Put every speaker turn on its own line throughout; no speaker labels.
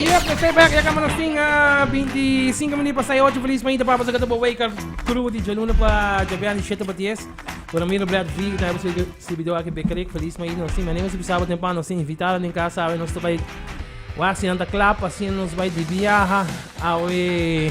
Yep, nos ta e bek. Ya kamba nos tin binti sinku minut pa sai ocho. Felis mañita pa boso ku ta bo wake up kru di djalunes pa djabean di shete pa dies. Ora mira Brad V, ku ta habo su sirbidó aki Bekerik. Felis mañita nos tin. Mane nos bisaba temprano, nos tin invitado den kasa. Awe nos ta bai wak. Asina nos ta klap. Asina nos bai di biaha. Awe.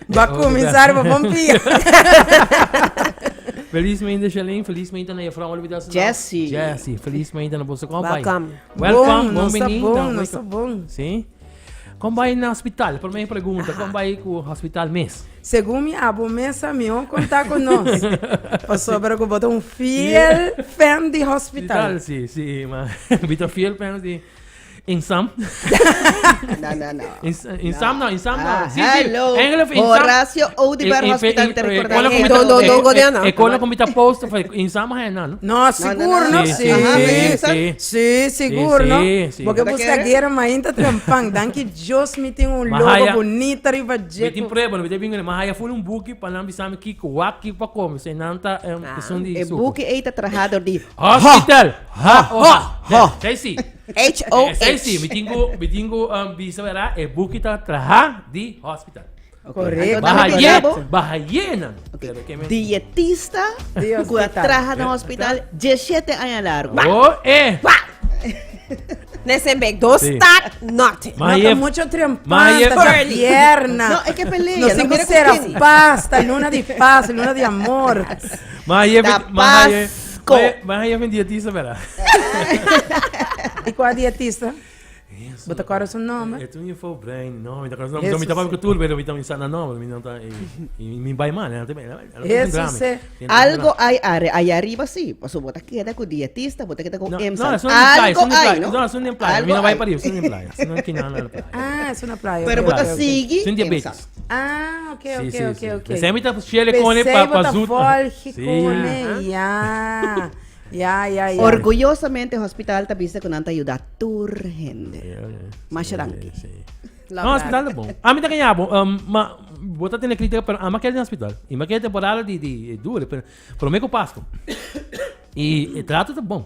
Bo a kuminsá riba bon pia. Felismente Shalane, felismente na Jefrou Olibida su nau. Jessy. Jessy, felismente na boso kompay. Welkom. Welkom, Bon, bon nos ta bini. bon, Nan nos wake ta up. bon. Sí. Kon bai na hospital? Prome pregunta, kon bai ku hospital mes? Segun mi abo mesa, mihó kontá ku nos. Pasobra ku bo ta un fiel fan di hospital. Hospital, sí, sí, ma. Mi ta fiel fans di In some. no, no, no. In, in no. some, no, in some, no. Ah, sí, hello. sí. Engel of in Horacio some. Odibar Hospital te recordar. No, no, no, no, go diana. E cola comita post of in some hay no. No, seguro no. Sí, sí, sí, seguro no. Porque busca guerra ma inta trampang. Danki Dios mi tin un logo bonita riba jeco. Mi tin prueba, no bete bingo, ma haya full un buki pa nan bisami kiko wak kiko pa come. Se nanta, um, ah. es un di E buki eita trahador di hospital. Ha ho ho. Esai si. HOH. Esai si mi tin ku mi tin ku bisa wera e buki ta traha di hospital. Correcto. Baha Anto ye, Anto Anto. baha ye nan. Pero ke men. Dietista Di ku a hospital. traha na hospital diesshete aña largo. Ho e. Pa! Nese bek dos Si. tak nothing. No Maye. ta mucho trempan, Maye. ta Curly. pierna. No, e ke pelea, No no sin mira ku sera kin. paz, ta luna di paz, luna di amor. Maye Tapaz. maye. Sco. Mas hij een diëtista, ¿verdad? E kua diëtista? Bo ta kòrda su nòmber? E tu një fo brein, no, mi ta kòrda su nòmber. Do mi ta pa kutul, pero mi ta mi sa na nòmber, mi no ta mi bai mal, na te me. Eso se. Algo ai are ai arriba si, paso bo ta keda ku diëtista, bo ta keda ku em sa. Algo ai, no? No, sun nem playa, mi no bai pa riba, sun nem playa. Sun na kinan na playa. Ah, sun na playa. Pero bo ta sigi. Sun diabetes. Ah, ok, ok, sí, ok, sí. ok. Besé mi ta fiel con él pa, pa zoet. Besé sí. con él, ya. Ya, ya, ya. Orgullosamente, hospital ta bisa con anta ayuda tur gente. Yeah, yeah. Mas sí, danki. Sí. No, hospital de bon. A mí ta kanyabo, um, ma, bota tiene crítica, pero ama kel den hospital. Y ma kel temporada di, di, dure, pero, pero me ko Pasco. Y, e trato ta bon.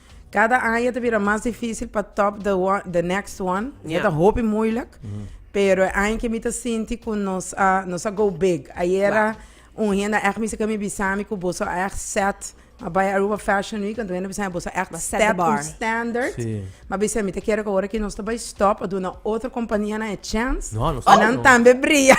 Cada aña ta bira mas dificil pa top the one, the next one. Ya Yeah. ta hopi moeilijk. Pero e aña ke mi ta sinti ku nos a nos a go big. Ayera un hende a ègt mester kami bisa mi ku boso a ègt set. Mi bai Aruba Fashion Week, anto un hende a bisa mi boso a ègt Bo set the stèt bar. un standard. Sí. Mi a bisa mi ta kere ku ora ke nos ta bai stop a duna otro kompanianan e chèns No, nos pa nan stop. tambe bria.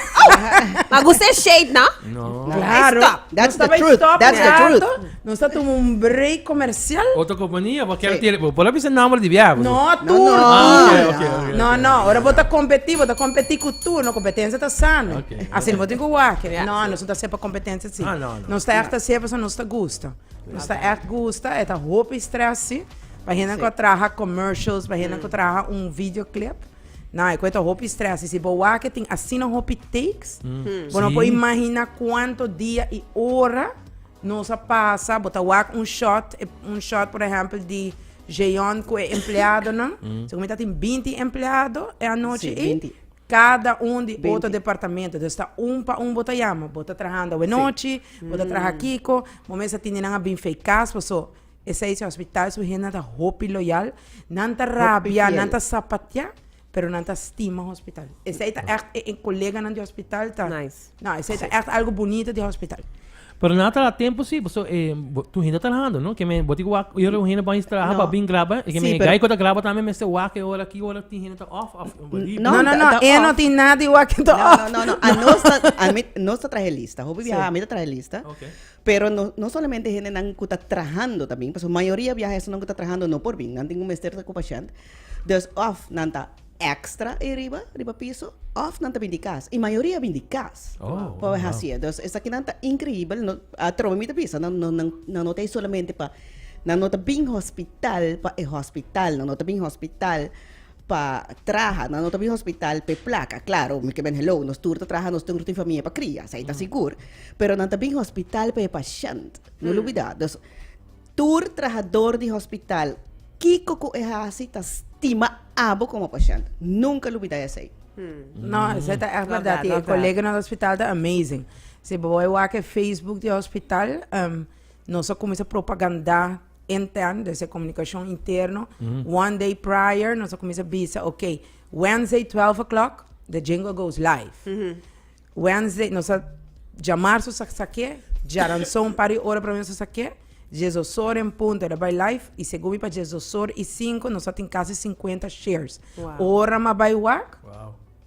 Ma gusta e shade, no? No. Claro. Stop. That's nos ta the bai truth. stop That's the e truth. alto, Nos ta tuma un break comercial. Otro compania bo quiero tira. Bo por la bisa nomber di biaha. No tur tur. No no ora bo ta competi bo ta competi cu tur no competencia ta sano. Asi no bo tin cu wak. No nos no ta hacer pa competencia si. Nos ta echt hacer pasobra nos ta gusta. Nos ta echt gusta e ta hopi stress si. Pa hende cu a traha commercials pa hende cu a traha un video clip na e cu e ta hopi stress si. Si bo wak tin asina hopi takes bo no por imagina cuanto dia y ora. Nos a pasa, bo ta wak un shot, e un shot por ehempel di Jeon ku e empleadonan, segun mi ta tin binti empleado e anochi Sí, i binti. kada un di otro Binti. departamento, dus ta un pa un bo ta yama, bo ta trahando awe nochi, bo ta traha kiko, bo mes a tin di nan a bin fei kas, paso esei si hospital su hendenan ta hopi loyal, nan ta rabia, fiel. nan ta sapatia, Pero nan ta stima hospital. Esei ta echt e koleganan di hospital ta. Nice. No, esei ta echt algo bunito di hospital. Pero nan a traha tempu si, pasobra e bo- tu hinda trahando, no? Ke men, bo tin ku wak ora ku hende bais traha No. pa bin graba. E ke Sí, men, e pero- gai ku ta graba tambe mester wak e ora, ki ora tin hende ta off, of bo libre. No, No, no, ta- no, ta e no off. tin nada di wak ta No, off. no, no, no. A nos ta, a mi, nos ta traha e lista. Hopi biaha a mi ta traha e lista. Ok. Pero no no solamente hendenan ku ta trahando ta bin, pasobra mayoria biaha esnan ku ta trahando no por bin, nan tin ku mester ta ku pashènt. Dus òf nan ta èkstra ei riba, riba piso, òf nan ta bin di kas. I mayoria bin di kas pa bai hasi e. Dus esakinan ta inkreibel, no atrobe mi ta bisa nan no nan nan no ta ei solamente pa nan no ta bin hospital pa e hospital, nan no ta bin hospital pa traha na otro hospital p'e plaka claro mi ke ben hello nos tur ta traha nos tur tin famia pa cria sa e ta sigur pero nan ta bin hospital p'e pashent no lo bida dus tur trahador di hospital kiko ku e hasi ta stima abo komo pashent nunka lo bida esei. No, esei ta ègt bèrdat i e koleganan di hospital ta amazing si bo wak e facebook di hospital nos a kuminsá propagandá. intern, debe ser comunicacion interno, one day prior nos a comienza bisa, ok, Wednesday twelve o'clock the jingle goes live, Wednesday nos a jamar su saksaké, djaranso un par di ora promé su saksaké, dies dos ora en punto el a bai live y segun mi pa dies dos ora y cinco nos a tin casi cincuenta shares, ora mi a bai wak.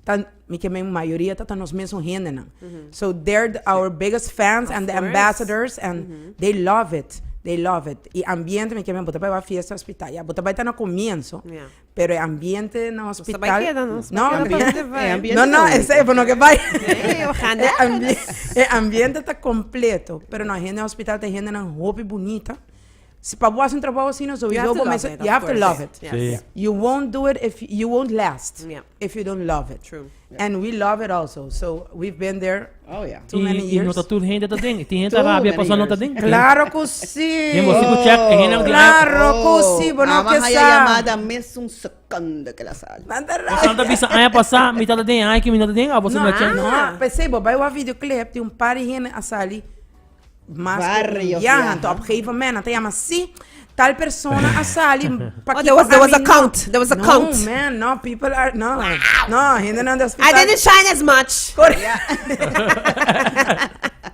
ta mi ke men mayoria ta ta nos mesun hendenan so they're our biggest fans and the ambassadors and they love it they love it y ambiente mi ke men bo ta bai wak fiesta hospital ya bo ta bai ta na comienzo pero e ambiente na hospital no no esei bo no ke bai e ambiente ta completo pero nos hende hospital ta e hendenan hopi bunita Si pa bo hasi un trabou asina sowiso bo mester you have to love it you wont do it if you wont last if you dont love it and we love it also so we've been there too many years. I no ta tur hende ta den tin hende ta rabia paso a no ta den claro cu si claro cu si bo no ke sa nan ta rabia nan ta bisa aña pasa mi tata den y aña ki mi no ta den a bo no ta check no p'esei bo bai wak video clip tin un par di hende a sali Mas ke un biaha. Enton op gegeven moment nan ta yama si tal persona a sali pa ki pa ami no. No man, no people are no. No hendenan di hospital.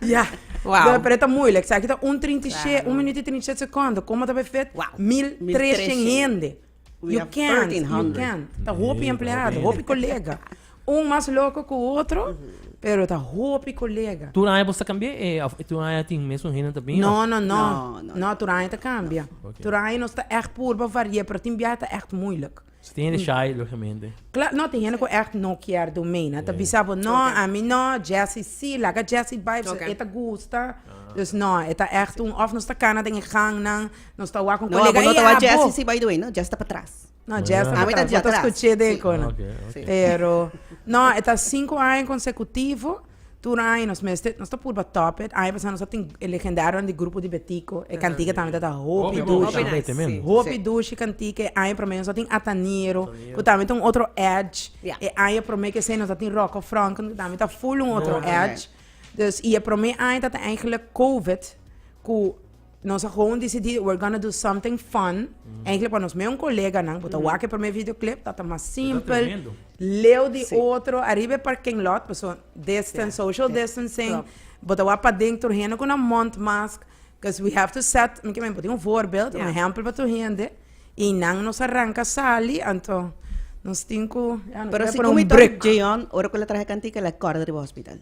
Ya. Wow. Pero e ta moeilijk. Sa aki ta un trinta i she, un minuut i trinta i shet sekonden. Komo ta pa efet? Wow. Mil treshen hende. You can't, you can't. Ta hopi empleado, hopi colega. Un mas loco cu otro, pero ta hopi colega. Tur aña bosta cambia e of tur aña tin mesun hende ta bin? No, no, no. No, no, no. tur aña ta cambia. Oké. Tur aña nos ta echt purba varié, pero tin biaha ta echt moeilijk. So tin hende shy, logicamente. Kla, no, tin hende cu echt no kier do mee, nan ta Yeah. bisa bo, no, Oké. a mi no, Jessie sí, laga Jessie bai, Oké. e ta gusta. Dus no, e ta echt un, of nos ta cana den e gangnan, Nos ta wak un No, colega abo no ta ei, wak jazz abo. sisi by the way, no, jazz ta patras. No, jazz Yeah. ta Ah, mi ta patras. No ta atrás. escuché de Sí. cono. Oké, oké. Sí. Pero, no, e ta cinco aña consecutivo. Tur aña nos mester, nos ta purba top it. Aña pasá nos a tin e legendario di grupo di Betico. E cantica tambe ta ta hopi Hopi dushi. Hopi Tambe nice, te men. sí. Hopi Sí. dushi cantica. E aña promé nos a tin Ataniro. Ataniro. Cu tambe ta un otro edge. Ja. E aña promé que sea nos a tin Rocco Franken. Cu tambe ta full un otro Mooi. edge. Dus, y e promé aña ta ta eigenlijk COVID. Cu nos a gewoon decidí we're gonna do something fun. Eigenlijk pa nos meon coleganan, bo ta wak e primer videoclip, dat a mas simpel. tremendo. Leo di Sí. otro, arriba e parking lot, pues so distance, Ja, social ja, distancing. klopt. Bo ta wak pa dentro, hende con a mondmask, cause we have to set, mi ke men, bo tin un voorbeeld, Ja. un ehempel pa tur hende. Y nan nos a ranca sali, anto nos tin cu, ja, nos Pero kier si por un kumi tor break. Jeyon, ora cu el a traha e cantica, el a corda riba hospital.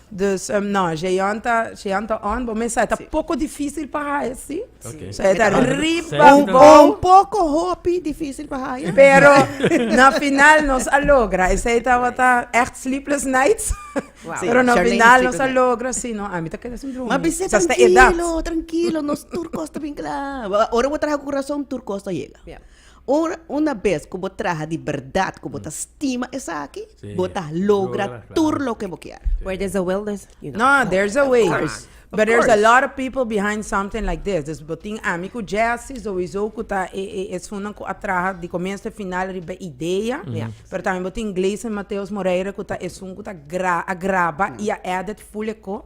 Dus no, Jeon ta, Jeon ta on, bo mesa, ta poko difisil pa haya, si. Okay. So, e ta Sete. riba Sete. bo. Un poco hopi difícil pa haya. Pero na final nos a logra. Esei tabata echt sleepless nights. Wow. Sí, Pero na Charlene final nos a sleepless logra, sí, no, a mí ta queda sin droom. Maar bese Sa sta edad. tranquilo, tranquilo, nos tur kosta bin klaar. Ora we traha ku razon, tur kosta yega. Ja. Ora una bes ku bo traha di bèrdat ku bo ta stima esaki, bo ta logra tur loke bo kier. Where there's a will there's you know. No, there's a way. But there's a lot of people behind something like this. Dus bo tin ami ku Jessy souizo ku ta e e esunnan ku a traha di komienso te final riba e idea. Pero tambe bo tin Gleison Mateos Moreira ku ta esun ku ta gra a graba i a èdit full e ko.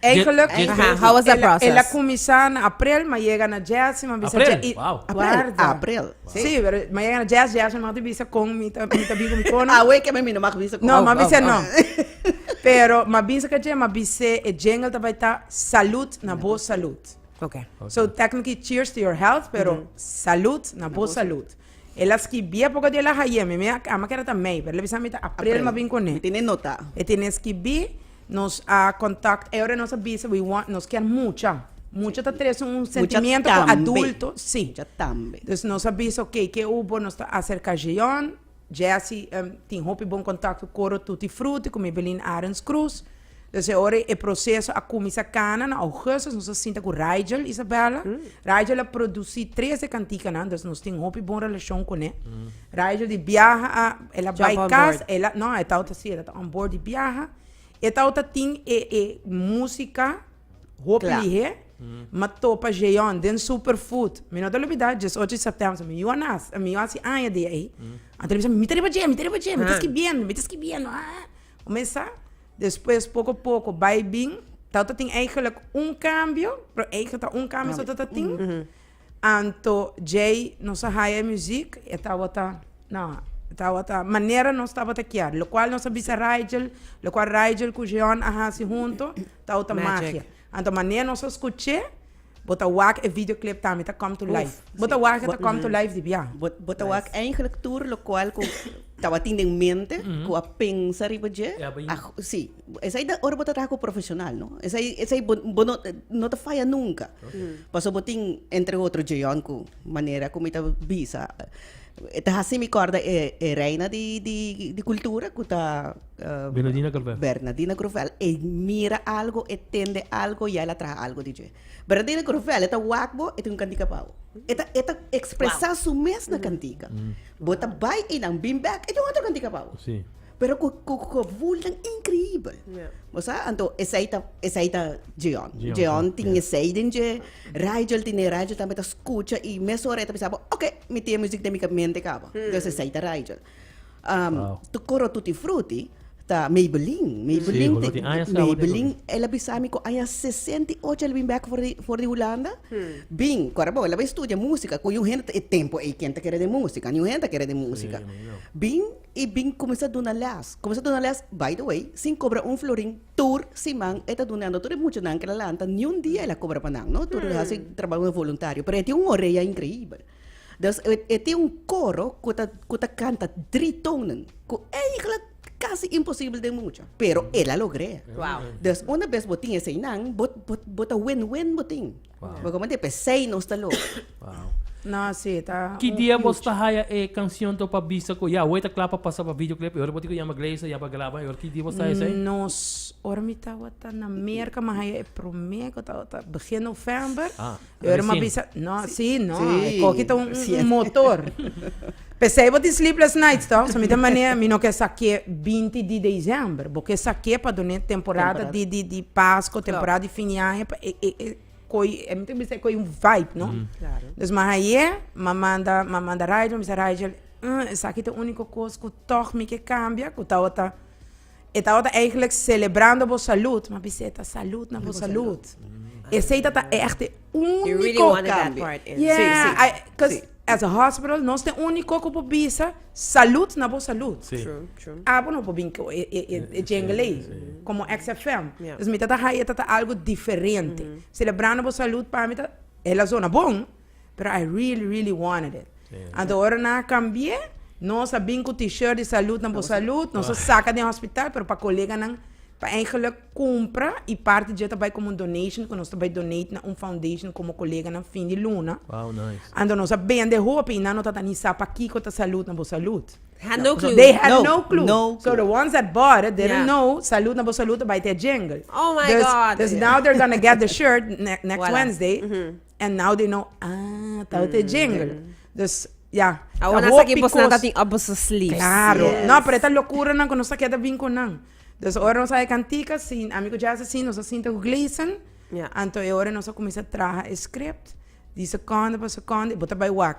Eigenlijk, el a cuminsa na aprel, ma yega na Jesse, ma bisa Jesse, y guarda, si, ma yega na Jesse, Jesse no mag di bisa con mi ta bin cu mi cono, no, ma bisa no, pero ma bisa ca dje, ma bis'é e jingle ta bay ta, Salud na bo salud, so technically cheers to your health, pero Salud na bo salud. El a skibí e poco di el a haye mi, mi a a mi keda ta mei, pero el a bisa mi ta April mi a bin cune. Mi tene nota. E tene skibí, nos a contact e ora nos a bisa we want nos kier mucha, mucha ta trese un sentimiento cu adulto, si. Mucha tambe. Dus nos a bisa ok ke hu bo nos ta acerca Jeon, Jessy tin hopi bon contacto coro tutti frutti como Evelyn Arens Cruz. Entonces e ora e proceso a cuminsa cana na augustus nos a sinta cu Rigel Isabella, Rigel a produci tres de canticanan entonces nos tin hopi bon relacion con e, Rigel di biaha a el a bay cas el a no e tawata si el a ta on board di biaha e tawata tin e e musica hopi lihe mi a topa Jeon den super food mi no ta olbida diesocho di septem mi yu a nace mi yu a haci aña di ayi a ta bisa mi ta riba dje mi ta riba dje mi ta skibiendo mi ta skibiendo. Kumesa, despues poko poko bai bin, ta ta tin eigenlijk un kambio, pero eigenlijk ta un kambio so ta ta tin. Anto djei nos a haya e muziek, e tabata, no, e tabata manera nos tabata kier, lokual nos a bisa Rigel, lokual Rigel ku Jeon a hasi hunto, tabata magia. Anto manera nos a scuch'e bo ta wak e video clip tambe ta come to life. Bo ta wak ta come to life di bia. Bo ta wak eigenlijk tur lokual ku tabatin den mente ku a pensa riba dje a si. Esei ta ora bo ta traha ku profeshonal no. Esei esei bo bo no no ta faya nunka. Paso bo tin entre otro Djeyon ku manera ku mi ta bisa e ta hasi mi kòrda e e reina di di di kultura ku ta. Bernadina Grovel. Bernadina Grovel. E mira algo, e tende algo y el a traha algo di dje. Bernadina Grovel, e ta wak bo, e tin un kantika pa bo. E ta, e ta expresa su mes na kantika. Bo ta bai einan, bin bèk, e tin otro kantika pa bo. Sí. Pero cu, cu, cu gevoelnan increíbel. Bo sa? Anto esei ta, esei ta Djeon. Djeon, Djeon tin ja. esei den dje. Rigel tin e, Rigel tambe ta scucha y mesora e ta bisa bo, ok, mi tin e music den mi ka mente caba. Entonces esei ta Rigel. Wow. Tu coro tutti frutti ta Maybelline. Maybelline, Sí, te- ti aña sa Maybelline el a bisa mi ku aña 68 el bin back for di, for di Hulanda. Bin, kora bo, el a bin studia música, ku yun hende e tempo ei ken ta kere den música, ni un hende ta kere den música. mi no. Bin, i bin kuminsá duna lès. Kuminsá duna lès, by the way, sin kobra un florin, tur siman e ta dunando tur e muchanan ku el a lanta, niun dia el a kobra pa nan, no. Tur el a hasi trabou voluntario, pero e tin un orea increíbel. Dus e e tin un koro ku ta ku ta kanta dri tonen, ku eigentlik kasi imposibel den mucha, pero el a logr'é. Wow. Dus una bes bo tin eseinan, bo bo bo ta wen wen bo tin. Wow. Bo komende p'esei nos ta lo. Wow. No, sí, ta Ki un dia bos ta huge. haya e canción to pa bisa cu ya wey ta cla pa pasa pa videoclip y ora bo tin cu yama Gleisa ya pa graba y ora ki dia bos ta haya esey? Nos, ora mi tabata na Merca, mi haya e prome, cu tabata begin november. Ah. E ora mi a bisa, no, sí, no, e koki ta un motor. P'esei bo tin Sleepless Nights tòg? So mi ta manera, mi no ke sa ke binti di desèmber, bo ke sa ke pa done temporada di di di pasko, temporada di fin di aña, pa e e e koi, mi ta bisa e koi un vibe, no? Dus mi a haye, mi a manda, mi a manda Rigel, mi a bisa Rigel, esaki ta ùniko kos ku tòg mi ke kambia, ku tabata E tabata eigenlijk celebrando bo salud, ma bisé ta salud na bo salud. Esei ta ta echte úniko. Yeah, I, cause as a hospital nos ta úniko ku por bisa salud na bo salud. Abo no por bin ku e e e jingle ei komo XFM. Dus mi ta ta ha'i e ta ta algo diferente. Celebrando bo salud pa mi ta, e la zona bon. Pero I really really wanted it anto ora nan a cambie nos a bin cu t-shirt di salud na bo salud nos a saca den hospital pero pa colega nan pa ein geluk cumpra y parti dje ta bay como un donation cu nos ta bay donate na un foundation como colega nan fin di luna anto nos a bende hopi y nan no tata ni sa pakico ta salud na bo salud had no clue they had no clue no clue so the ones that bought it didn't know salud na bo salud ta bay te e jingle oh my god dus dus now they're gonna get the shirt ne next Wednesday. and now they know ah tabata e jingle dus ya ta Awor nan sa hopi ki bosnan ta kos- tin up boso sleeves. Claro, Yes. no, pero eta locuranan cu nos a keda bin cu nan. Dus ora nos a haci cantica, sin, ami cu Jazz asin, nos a sinta cu Gleason, Ja. anto e ora nos a cuminsa traha e script, di secondo pa secondo, y bo ta bay wak.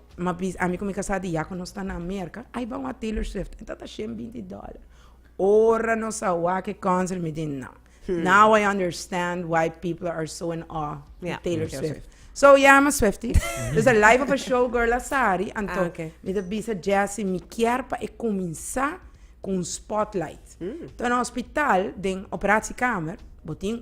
ma bis ami ku mi kasá di ya ku nos ta na Merka, ai bai wak Taylor Swift, e ta ta shen binti dòler. Ora nos a wak e konsert mi di nan, now I understand why people are so in awe di Ya. Taylor Taylor Swift. So ya, I'm a Swiftie. There's a life of a show girl asari, anto Ah, oké. mi ta bisa Jesse mi kier pa e kuminsá ku un spotlight. Ta na hospital den operasiekamer, bo tin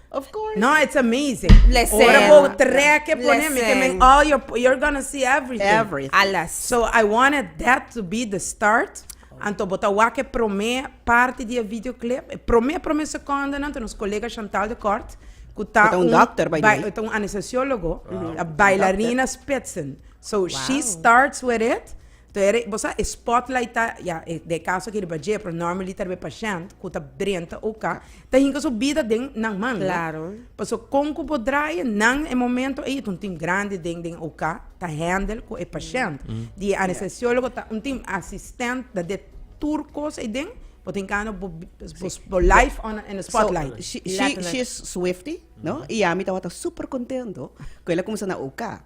No it's amazing ora bo treke pone mi ke men all your you're gonna see everything alles so I wanted that to be the start anto bo ta wak e prome parti di e video clip e prome prome seconde nan ta nos colega Chantal de Kort ku ta un ta un anestesiologo a bailarina spitsen so she starts with it. To era, bo sa, e spotlight ta, ya, e, den e caso aki riba dje, pero normally ta riba e pashènt cu ta drenta u ka, ta hinca su bida den nan man, no? Claro. Pasobra con cu bo draya nan e momento ey, ta un team grandi den, den u ka, ta handle cu e pashènt. Di e anestesiólogo ta un team asistent, ta den tur cos ey den, bo ta hinca no, bo, bo, bo life on, on the spotlight. So, she, she, she is Swiftie, no? Y yami tabata super contento cu el a cuminsa na u ka.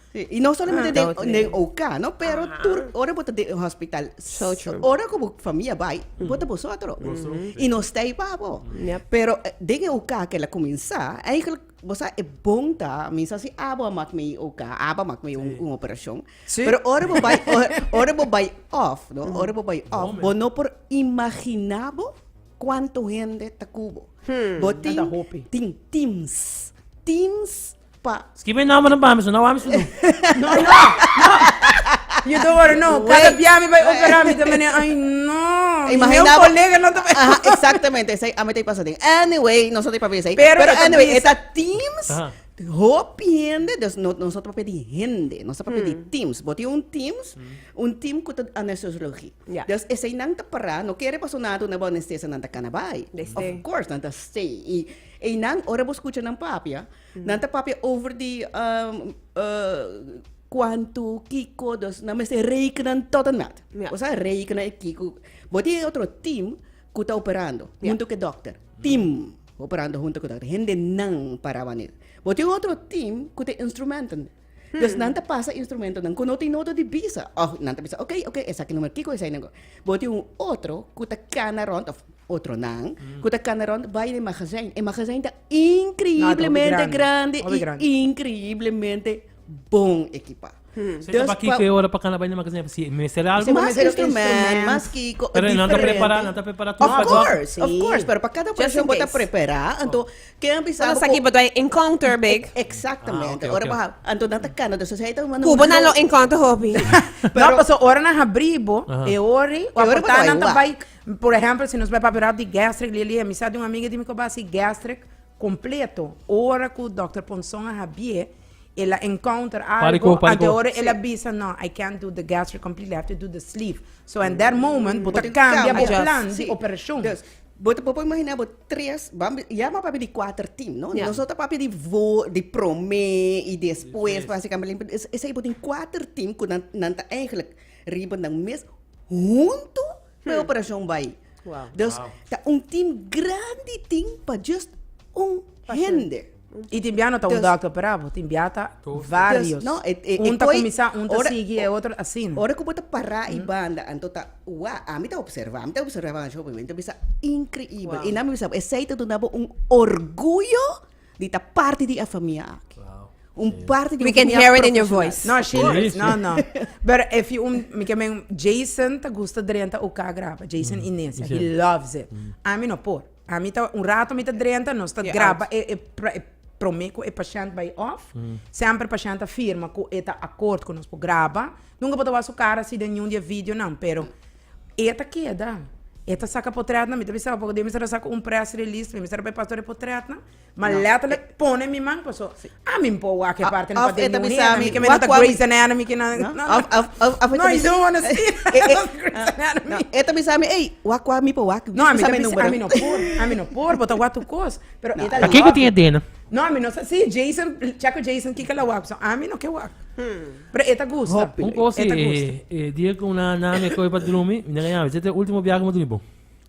Sí, i no solamente den South den Lake. OK, no, pero Aha. tur ora bo ta den un hospital, So true. ora ku bo famia bai, bo ta bosotro. I no stay pa bo. Yep. Pero eh, den e OK kel a kuminsá, eigenlijk, bo sa, e bon ta, mi sa si abo a mak mi i OK, abo a mak mi un, un operashon. Sí. Pero ora bo bai, or- ora bo bai off, no, ora bo bai off, Momen. bo no por imaginá bo kuantu hende ta ku bo. Bo tin, hopi. tin teams, teams pa. Skibi e nombernan pa mi, su no awor mi su nu. No, no, no. Yu ta wòrdu, no, kada Wait. bia mi bai operá mi ta mene, ay, no. Mi Imaginá meu bo- kolega no ta bai. Aha, exactamente esei ami ta pasa den. Anyway, nos no ta papia esei. Pero Pero e ta anyway, e bisa. ta Teams, Aha. hopi hende, dus no, nos no ta papia di hende, nos ta papia di Teams. Bo tin un Teams, un team ku ta anestesiologi. Ya. Dus eseinan ta pará, no kere paso nada tur na bo anestesianan ta kana bai. Desde. Of course, nan ta stay. I Einan, ora bo skucha nan papia, nan ta papia over di kuantu, kiko, dus nan mester rekena tot en mat. Ya. Bo sa rekena e kiko. Bo tin e otro tim ku ta operando Ya. huntu ku e dòkter. Tim operando huntu ku e dòkter. Hendenan para manera. Bo tin otro tim ku tin instrumenten. Des nan ta pasa instrumentonan ku no tin nodo di bisa. Òf nan ta bisa, ok, ok, esaki numer kiko, esaki numer kiko. Bo tin un otro ku ta kana rònt, òf otronan, ku ta kana rònt bai den e magazijn. E magazijn ta inkriblemente grandi i inkriblemente bon ekipá. Seta pa kiko e ora pa kana bai den e magazijn? Pasobra e mester algu. E mester otro instrumento, mas kiko, diferente. Pero nan ta prepará, nan ta prepará tur pa dòkter. Òf kors, òf kors. Pero pa kada operashon bo ta prepará, anto. Ken a bisa bo ku. Nos aki bo ta encounter bek. Exactamente. Ora bo hab. Anto nan ta Canada so esei ta un. Cuba nan lo encounter hopi. No paso ora nan habri bo e ori o aporta nan ta bai por ehempel si nos bai papia rap di gastric lia lia mi sa di un amiga di mi ku a bai hasi gastric completo ora ku doctor Ponson a habie el a encounter algo anto e ora el a bisa no I can't do the gastric completely I have to do the sleeve so and that moment bo ta cambia bo plan di operacion. Bo ta por por imaginá bo tres, bam bi, ya m'a papia di kuater tim, no? Ya. Nos no ta papia di vó, di promé i despues, básikamblente. Es- Esei bo tin kuater tim ku nan, nan ta eigelik riba nan mes huntu pa e operashon bai. Wow. Dus, Wow. ta un tim granditin pa just un Pashènt. hende. Y tin bia no ta un Dus- dòkter perabo, tin bia ta Dos vários. Dus, no, e- e- e Un ta koi- kuminsá, un ta ora- sigui, e otro asina. Ora ku bo ta pará i banda, anto ta, wa, ami ta observá, mi ta observá nan shopi, mi ta bisa inkreibel. Wow. I nan mi bisa, esei ta duna bo un orguyo di ta parti di e familia aki. Wow. Un parti di We un can familia hear it in your profesional. voice. No, she Sí, is. sí. No, no. Pero if you, um, mi ke men, Jason ta gusta drenta uka graba. Jason Inesia. He Inesia. loves it. Ami no por. Ami ta, un rato mi ta drenta, nos ta graba e promé ku e pashènt bai òf. Semper pashènt ta firma ku e ta akort ku nos por graba. Nunka bo ta wak su kara si den niun di e videonan, pero e ta keda. E ta saka potrètnan. Mi ta bisa, opo dia mi sar a saka un press release, mi sar a bai pas tur e potrètnan. Ma letterlijk pone mi man paso a mi por wak e parte no paden mi hunda mi ke me no ta Grey's anatomy ke na no i don't wanna see Grey's anatomy e ta bisa mi ey wak wak mi por wak no a mi ta bisa a mi no por a mi no por bo ta wak tur kos pero e ta lòk kiko tin e dena no a mi no sa si Jason check with Jason kiko la wak paso a mi no ke wak pero e ta gusta un kos e dia ku nan nan me kohe pa drumi mi na ga yawe chete ultimo biaha ku mi dumi bo.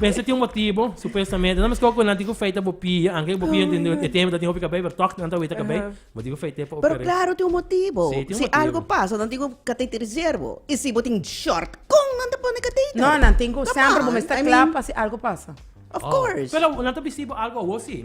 Mester tin un motibu, supuestamente. Nan mescua cu nan tin cu fey ta bo pia, anke bo pia enten e tempo ta tin hopi cabey, pero toc nan ta wey ta cabey, bo tin cu fey te pa oper'e. Pero claro tin un motibu. Sí, tin un motibu. Si algo pasa nan tin cu cateterizar bo. Y si bo tin short, con nan ta pone cateter? No, nan tin cu semper bo mester cla pa si algo pasa. Of course. Pero nan ta bisti bo algo awo si.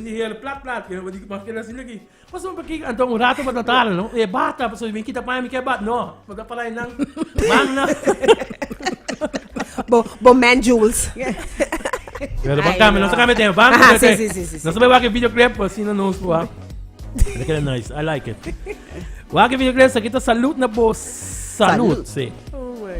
E hele plat plat ke tabata di mas kere asina aki. Pasobra mi bakiko anto un rato pa tratala no. E bata pasobra mi bin kita paña mi ke bat no. Bo ta palai nan man nan. Bo bo man jewels. Pero ban kami nos a kami den van. Aha, sí, sí, sí, sí, sí. Nos a wak e video clip así na nos wak. Te kere nice. I like it. Wak e video clip sa kita salud na bo salud. Salud. Sí. Oh my.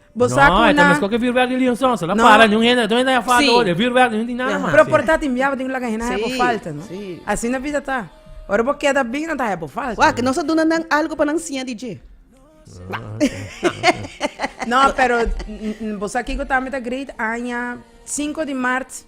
Bo sa ku na Mes koke vuurwerk di Leon Sons. La para ni un hende ato hende a falta ora e vuurwerk ni un di nada mas. Pero por ta tin biaha bo tin ku laga hende a habo falta no. Asina a vida ta. Ora bo keda bin nan ta habo falta. Wak nos a duna nan algu pa nan siña di dje. No pero bo sa kiko tambe ta great aña sinku di mart.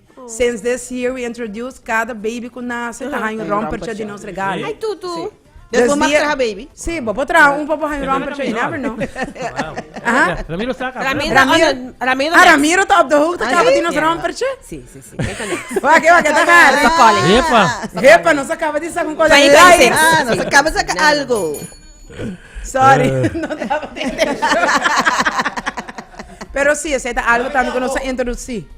Since this year we introduce cada baby cu nace ta haña un rompertje di nos regalo. Ay tutu! Des bo mag traha baby? Si, bo por traha un pa bo haña un rompertje, you never know. Ramiro sa caba. Ramiro ta op de hoogte caba di nos rompertje? Si, si, si. Kijk na. Wak, wak, e ta hard. Epa. Epa, nos a caba di sa cu un cole light. Ah, nos a caba di sa cu algo. Sorry, no taba ta intention. Pero si, esa ta algo tambe cu nos a introduci.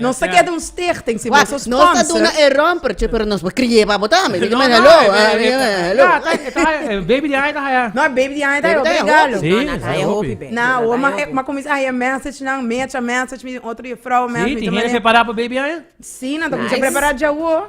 Nos ta keda un stichting, si nos a sponsor. Nos ta duna e rompertje, pero nos por kriye pa bo tambe. No, no, e baby di aña ta haya. No, e baby di aña ta haya otro regalo. Si, ta haya hopi. Na, o ma, ma kominsa a haya message nan, mecha message, mi otro juffrouw message. Si, tin hende prepara pa baby aña? Si, nan ta kominsa prepara djawo.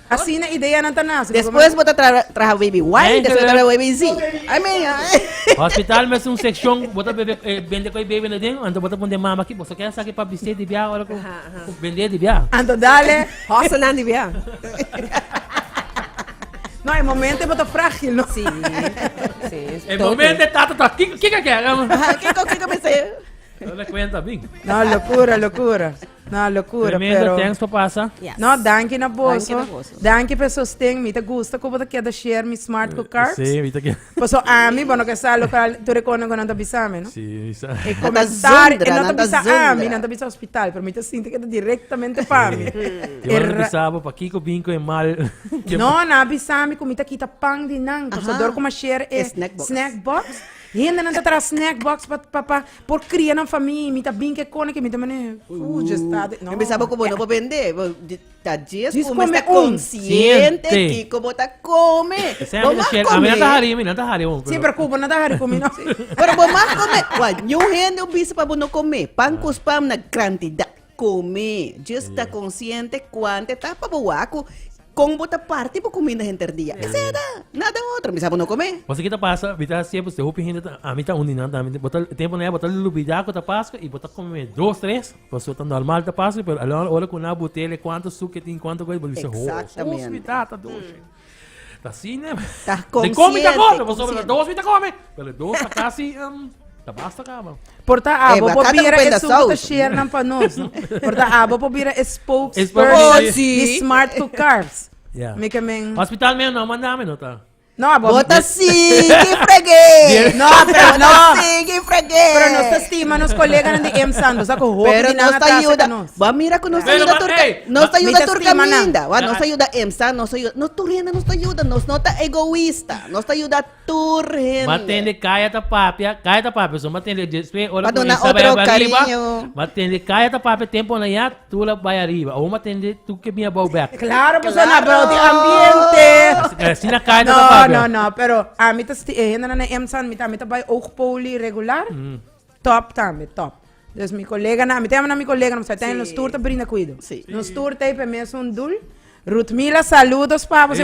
Asina ideanan ta nace. Despues bo ta traha baby Y, despues bo ta traha baby Z. I mean. Hospital mes un seccion bo ta bende cu e baby aden, anto bo ta pon den mama aki, boso kier saki pa biste di bia ora cu bende di bia. Anto dale hosselnan di bia. No, e momento bo ta fragil, no? Si, si. E momento e tata ta, kiko kier? Kiko, kiko biste? No le cuenta, bin. No, locura, locura. No locura Tremendo, pero thanks pa pasa. Yes. No, danki na boso. Danki na boso. Danki pe sosten. Mi ta gusta ku bo ta keda share mi smart ku carbs. Sí, mi ta keda. Paso ami, bo no ke sa lokal, tu rekonda ku nan ta bisa mi, no? Sí, mi sa. E komentar, e no ta bisa ami, nan ta bisa hospital, pero mi ta sinti ke ta directamente pa mi. Ti ora ta bisa bo pakiko bin ku e mal. No, nan a bisa mi ku mi ta kita pan di nan, paso dor ku mi a share e snack box. Hende nan ta traha snack box pa pa pa Por cria nan famia mi ta bin ke kone ke mi ta mane uh dje sta de no. Mi pensaba ku bo no por bende bo ta djes Djes ku bo mester come un. konsiente Siente. kiko bo ta kome Esei bo ami ta mag share, ami no ta kome hari, mi no ta hari aún. Sí, pero Cuba no ta hari con mi, no. pero bo mag kome wa ñu hende un bisa pa bo no kome pan ku spam na krantidat kome djes ta konsiente kuante ta pa bo wak ku Kon bo ta parti bo kuminda henter dia? Esei ta, nada otro, mi sa bo no kom'é. Pasobra ki ta pasa? Bi ta hasié pues te hopi hende ta, ami ta un di nan tambe, bo ta, tempu na e bo ta lubidá ku ta Paskua i bo ta kome dos, tres, pasobra ta nòrmal ta Paskua, pero a la ora ku nan a butele kuantu suk ke tin, kuantu kos, bo bisa, ho, dos mi ta ta doshi. Ta asina, mi ta kome, ta kome, pasobra dos mi ta kome. Pele dos ta casi um, ta basta cama. Por ta abo eh, por bira e sungo te share nan pa nos. No? por ta abo por bira e spokesperson oh, sí. di Smart Cook Carbs. Yeah. Mi que men... Hospital men no mandame no ta. No, abo. Bota sí, que fregué. no, pero no. Sí, que fregué. Pero nos estima nos colegas de M Santos, saco hopi Pero nos está ayuda. Va mira que nos ayuda turca. Nos está ayuda turca minda. Va nos ayuda M Santos, nos ayuda. Nos turriendo nos ayuda, nos nota egoísta. Nos ayuda tur hende. M'a tende kaya ta papia, kaya ta papia so m'a tende despues ora ku Isa bai abra riba, m'a tende kaya ta papia tempo nan ya tur a bai ariba. Awor m'a tende tur ke bin a bou bèk. Klaro pasobra nan a bou di ambiente. Asina kaya ta papia. No no no pero ami ta sti e hendenan na EMSA mi ta bai oog poli regular. Top tambe, top. Dus mi colega nan, mi ta yama nan mi colega nan, pasobra nos tur ta brinda cuido. Nos tur ta hopi mes un dul. Ruth Mila, saludos pa bo. Ruth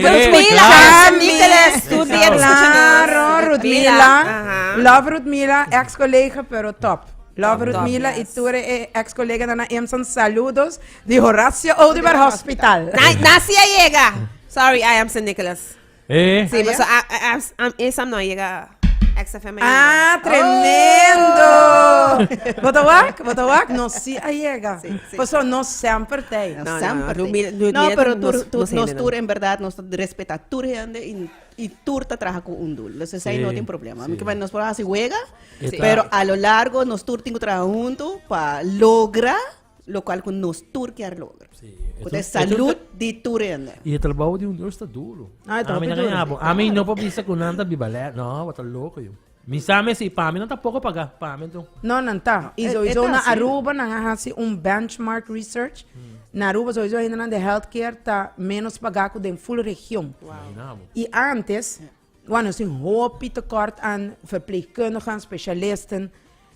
Mila, love Ruth Mila, ex colega pero top. Love Ruth Mila y tur e ex colega nan na EMSA, saludos di Horacio Oduber Hospital. Na si a yega. Sorry, I am San Nicolas. Eh. Sí, pero ah, ah, ah, ah, ah, eh, Sam no ha llegado a XFM ainda. Ah, tremendo! Bota wak, bota wak. No si a llega. Sí, sí. Paso no semper tei. No, no, Semper no, tei. no, No, mira, pero nos- tur, tur, nos nos hende, tur no. en verdad nos respeta tur hende y, y tur ta trabaja con un doel. Dus esa Sí, no tiene problema. sí. Porque nos por hacer juega, Sí. pero a lo largo nos tur tiene que trabajar junto para lograr lo cual cu nos tur kier logra. Sí. Cu te salud di tur ende. Y el trabajo di un Dios está duro. Ah, está muy duro. A mí no puedo pensar que un anda bibalé. No, wat loco yo. Mi sabe si para mí no está poco pagar, para mí no. No, no está. Y so hizo una Aruba, no hace un benchmark research. Na Aruba so hizo gente de healthcare está menos pagar que den full región. Wow. Y antes, Wan nos tin hopi tekort an verpleegkundigen, specialisten.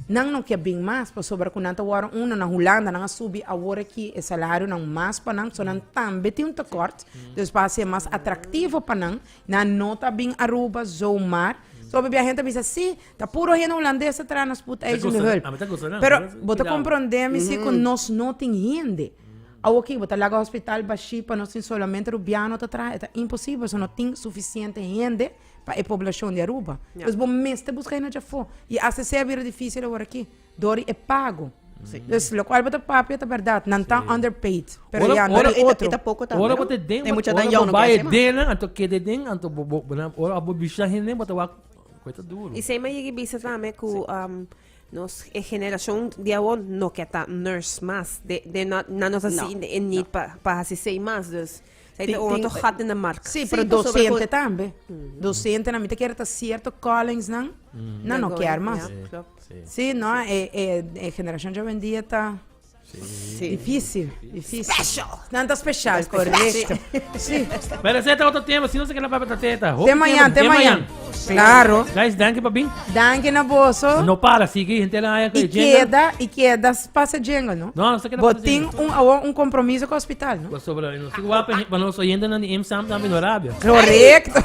Nan no ke bin mas pasobra ku nan ta wòrdu uno. Na Hulanda nan a subi awor aki e salarionan mas pa nan. So nan tambe tin un tekort. Dus pa hasié mas atraktivo pa nan. Nan no ta bin Aruba zomaar. Soba e bia hende ta bisa, sí, ta puro hende hulandes ta traha na spoedeisende hulp. Pero bo ta komprondé mi si ku nos no tin hende. Awo aki bo ta laga hospital bashí pa nos tin solamente rubiano ta traha? E ta imposibel so no tin sufisiente hende pa e poblashon di Aruba. Ya. Pues bo mester buska hende dje afó. I acc a bira difícil awor aki dor di e pago. Pues lokual bo ta papia ta bèrdat, nan ta underpaid. Pero Ora- ya, nan ora- tin otro. Eta poko tambe, Ora no? bo te den, E mucha ora dan bo yao, no bai kier e sema. dennan, anto kede den, anto bo- bo- bo- ora bo bisha hende, bo ta wak, kue ta duro. I sey mi a yigi bisa tambe ku um, Nos e generacion di awor no ke ta nurse mas. De, de no, na nos asi no, e need no. pa, pa hasi sei mas. Dus, sei te oto gat in de mark. Si, si pero docente tambe. Mm. Docente na mi te kier ta cierto callings nan, mm. na no kier mas. Si, no, e, e, e generacion de hoy en dia ta... Difícil, difícil. Special. Nan ta special, correcto. Sí. Pero ese ta otro tema, si no se queda para ta teta. Te mañana, te mañana. Claro. Guys, danke pa bin. Danke na boso. No para, sigue gente la haya que queda y queda pasa jingle, no? No, no se queda pasa jingle. Botin un awo un compromiso con hospital, no? Pues sobre, no se guapa, para nos oyendo na IMSAM también Arabia. Correcto.